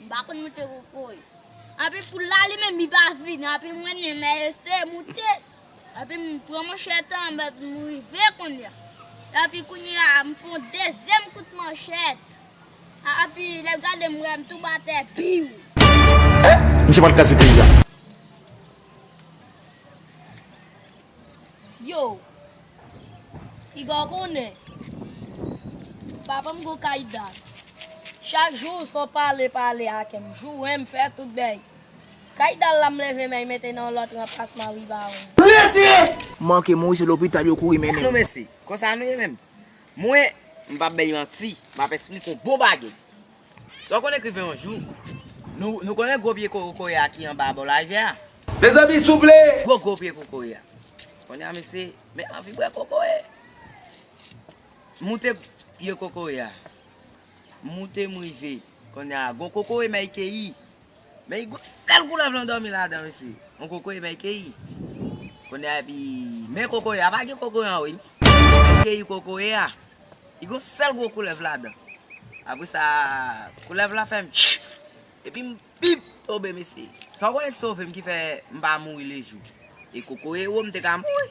M pa konn moute kokoy. Epi poul la li menm li pa vini epi mwen menm m eseye moute epi m pran manchèt an m rive kounya. Epi kounya m fè yon dezyèm kout manchèt. Epi lè l gade m wè m tonbe atè biw. Misye pral kraze peyi a. Yow piga w konnen papa m gwo kay da. Chak jou w son pale pale ake m joure m fè tout bgy. Kay da la m leve men mete nan lòt ranplasman wi bawon. Rete! M manke mouri se lopital yo kouri mennen m. Mesi. Konsa nou ye menm. Mwen. M pap bay manti. M ap esplike w bon bagay. Sa w konn ekriven yon jou. Nou konnen gwo pye kokoye a ki anba bò larivyè a? Mezanmi souple! Gwo gwo pye kokoye a. Kounye a mesye, men anvi bwè kokoye! M moute pye kokoye a. M moute m rive. Kounye a, gwo kokoye Mike Keï! Men yi gon sèl koulèv lan dòmi ladan mesye yon kokoye men keyi kounye a epi men kokoye a pa gen kokoye anwo wi men keyi kokoye a yi gon sèl gwo koulèv ladan apre sa koulèv la fèm tchik epim bip tonbe mesye sa w konnen ki sovem ki fè m pa mouri lejou e kokoye wo m te ka mouri.